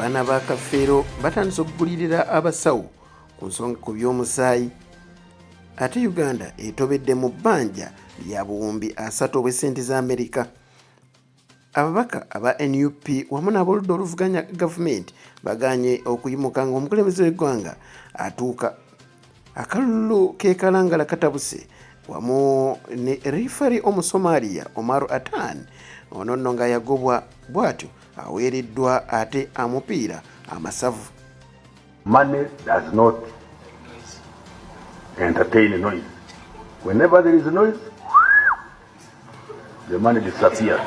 abaana ba kafeero batandise okugulirira abasawo ku nsonga ku by'omusaayi ate uganda etobedde mu bbanja lya buwumbi asatu obw'essente za amerika ababaka aba nup wamu n'aboludda oluvuganya gavumenti baganye okuyimuka ng'omukulembeze w'eggwanga atuuka akalulu kekalangala katabuse wamu ne rifari omusomaliya omaru atan ono nno nga yagobwa bwatyo aweereddwa ate amupiira amasavu money does not entertain noise whenever there is noise the money disappears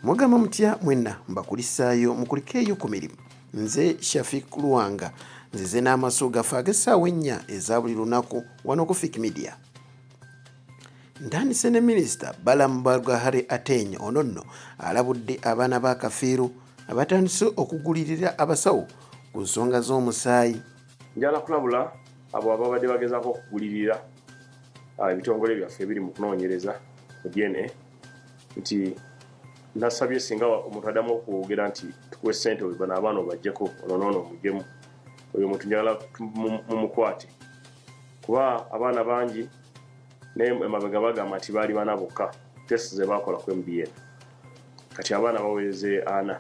Mugamba mutya mwenna mbakulisaayo mukulikeeyo ku mirimu. Nze Shafik Luwanga nzize n'amaso gaffe ag'essaawa ennya eza buli lunaku wano ku Fik Media. Ntandise ne minisita Balaam Barugahare Ateny ono nno alabudde abaana ba Kafiiru abatandise okugulirira abasawo ku nsonga z'omusaayi. Njala kulabula abo ababadde bagezaako okugulirira ah, ebitongole byaffe ebiri mu kunoonyereza mu DNA nti nasabye singa omuntu adamu okwogera nti tukuwe sente oyo bano abaana obajjeko ono noono omujemu oyo omuntu njagala mumukwate kuba abaana bangi naye emabega bagamba nti baali bana bokka test zebakola ku mbn kati abaana baweze ana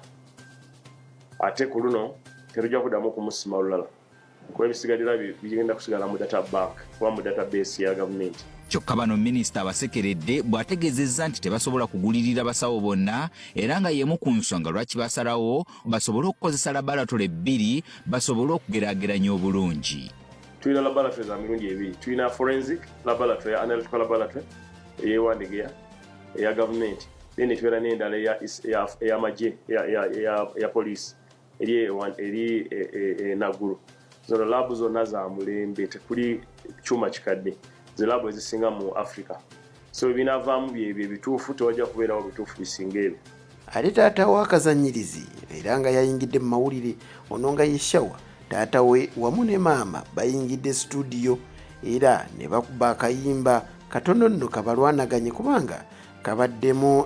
ate ku luno terujja kudamu okumusima olulala kuba ebisigalira bigenda kusigala mu data bank oba mu data base ya gavumenti kyokka bano minisita abasekeredde bw'ategeezezza nti tebasobola kugulirira basawo bonna era nga y'emu ku nsonga lwaki basalawo basobole okukozesa labalatole ebbiri basobole okugeraageranya obulungi tulina labalatole za mirundi ebiri tulina forensic labalatole ya analytical labalatole eyewandegeya eya gavumenti then etubeera n'endala eyamagye eya poliisi eri eri enagulu e, e, zona labu zonna za mulembe tekuli kyuma kikadde zilabu ezisinga mu africa so ebinavaamu byebyo ebituufu tewajja kubeerawo bituufu bisinga ebyo ate taata we akazanyirizi era nga yayingidde mu mawulire ono nga yeshawa taata we wamu ne maama bayingidde situdiyo era ne bakuba akayimba katono nno kabalwanaganye kubanga kabaddemu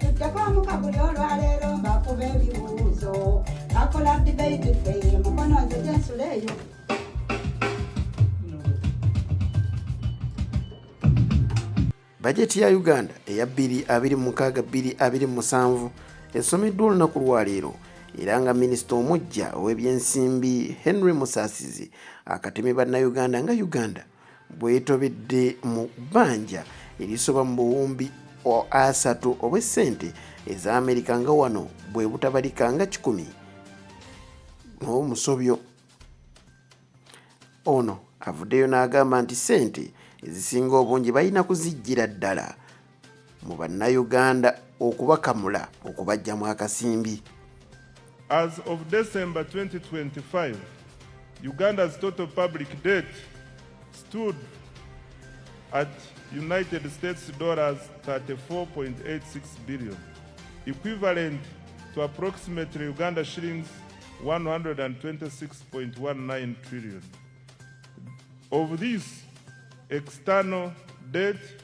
tujjakomuka buli olwaleero mbakuba ebibuuzo akola dibeiti feye mukono nze gyensula eyo bajeti ya uganda eya 22627 esomeddwa olunaku lwaleero era nga minisita omuggya ow'ebyensimbi henry musasizi akatemye bannayuganda nga uganda bwetobedde mu bbanja erisoba mu buwumbi asatu obw'essente eza amerika nga wano bwe butabalika nga kikumi n'omusobyo ono avuddeyo n'agamba nti ssente ezisinga obungi balina kuzijjira ddala mu bannayuganda okubakamula okubajja mu akasimbi As of December 2025, Uganda's total public debt stood at United States dollars 34.86 billion, equivalent to approximately Uganda shillings 126.19 trillion. Of this, external debt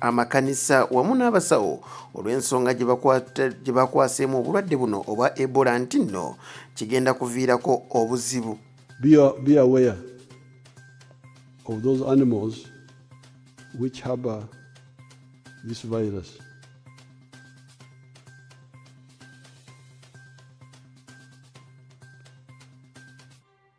amakanisa wamu n'abasawo olw'ensonga gye bakwaseemu obulwadde buno obwa ebola nti nno kigenda kuviirako obuzibu be aware of those animals which harbor this virus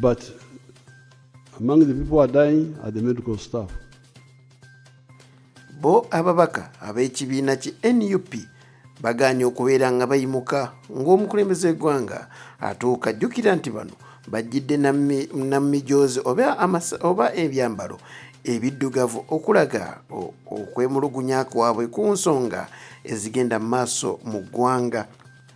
But among the people who are dying are the medical staff. Bo ababaka ab'ekibiina ki NUP bagaanye okubeera nga bayimuka ng'omukulembeze w'eggwanga atuuka jjukira nti bano bajjidde namijoozi oba ebyambalo ebiddugavu okulaga okwemulugunya kwabwe ku nsonga ezigenda mu maaso mu ggwanga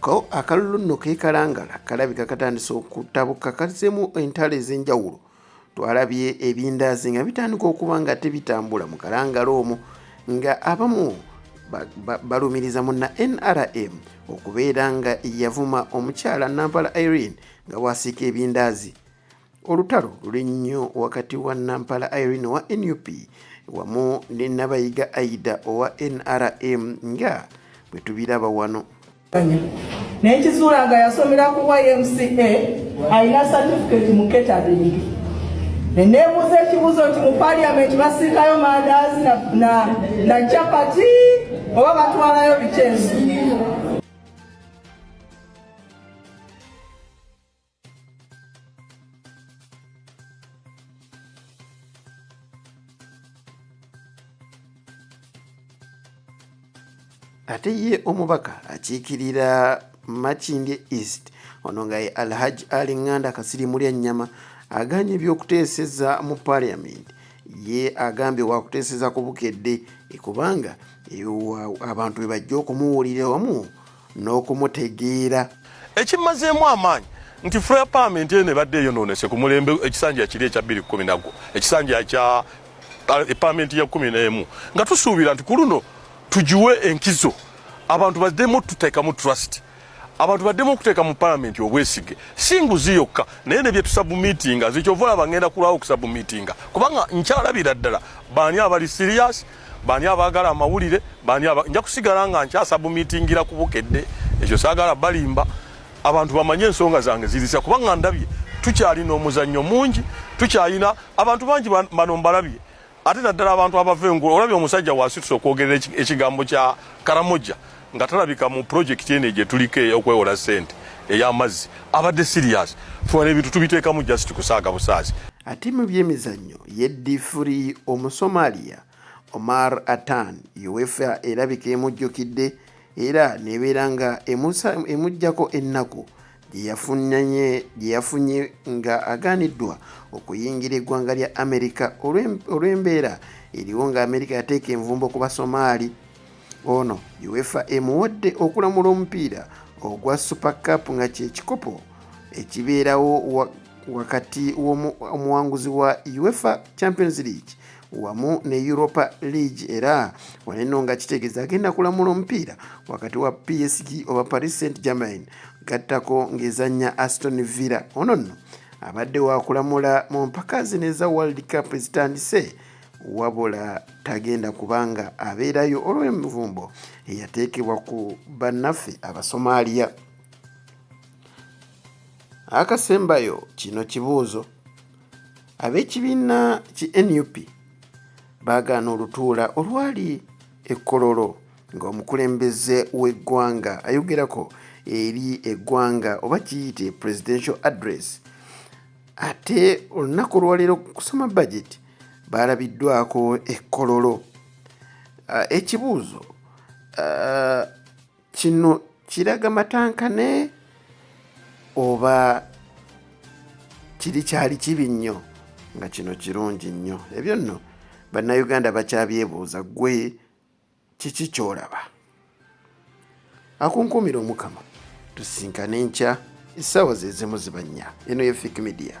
ko akalulu nno kekalangala kalabika katandise okutabuka kazemu entalo ez'enjawulo twalabye ebindaazi nga bitandika okuba nga tebitambula mu kalangala omwo nga abamu balumiriza mu na nrm okubeera nga yavuma omukyala nampala irene nga bwasiika ebindaazi Olutalo luli nnyo wakati wa Nampala Irene owa nup wamu ne Nabayiga Aida owa NRM nga bwe tubiraba wano. Naye kizuula nga yasomera ku YMCA alina certificate mu catering. Ne neebuuza ekibuuzo nti mu parliament basiikayo mandaazi na, na, na chapati oba batwalayo bikyensi ate ye omubaka akiikirira makindye east ono nga ye alhaj ali nganda kasiri mulya nnyama aganye ebyokuteeseza mu parliament ye agambye wakuteeseza ku bukedde kubanga abantu bebajja okumuwulira wamu n'okumutegeera. Ekimmazeemu amaanyi nti Fire Permit eno ebadde eyonoonese ku mulembe ekisanja kiri ekya bbiri kkumi nagwo ekisanja kya eh, Permit ya kkumi n'emu nga tusuubira nti ku luno tugiwe enkizo abantu baddemu tuteekamu trust abantu baddemu okuteeka mu palamenti obwesige si nguzi yokka naye ne bye tusabumitinga nze kyova olaba ngenda kulwawo okusabumitinga kubanga nkyalabira ddala baani abali siriyasi bani abaagala amawulire bani aba... nja kusigala nga nkyasabumitingira ku bukedde ekyo saagala balimba abantu bamanye ensonga zange zirisa kubanga ndabye tukyalina omuzannyo mungi tukyalina abantu bangi bano mbalabye ate naddala abantu abava engulu olabye omusajja wasituse okwogerera ekigambo kya karamoja nga talabika mu project ene gye tuliko ey'okwewola sente ey'amazzi abadde serious funa ebintu tubiteekamu just kusaaga busaazi ate mu byemizannyo ye difuri omusomalia omar atan uefa erabika emujjukidde era nebeera nga emujjako ennaku gye yafunye nga agaaniddwa okuyingira eggwanga lya amerika olw'embeera eriwo nga amerika yateeka envumbo ku basomaali ono uefa emuwadde okulamula omupiira ogwa super cup nga kyekikopo ekibeerawo wakati w'omuwanguzi wa uefa champions league wamu ne Europa League era waneno nga kitegeeza agenda kulamula omupiira wakati wa PSG oba Paris Saint Germain gattako ng'ezannya Aston Villa. Ono nno abadde wakulamula mu mpaka zino eza World Cup ezitandise wabula tagenda kubanga abeerayo olw'envumbo eyateekebwa ku bannaffe Abasomaaliya. Akasembayo kino kibuuzo. Ab'ekibiina ki nup baagaana olutuula olwali ekkololo ng'omukulembeze w'eggwanga ayogerako eri eggwanga oba kiyite presidential address ate olunaku olwaleero kusoma bajeti baalabiddwako ekkololo ekibuuzo kino kiraga matankane oba kiri kyali kibi nnyo nga kino kirungi nnyo ebyo nno bannayuganda bakyabyebuuza gwe kiki kyolaba akunkumira omukama tusinkane nkya essaawa zezimu zibannya eno ye fik media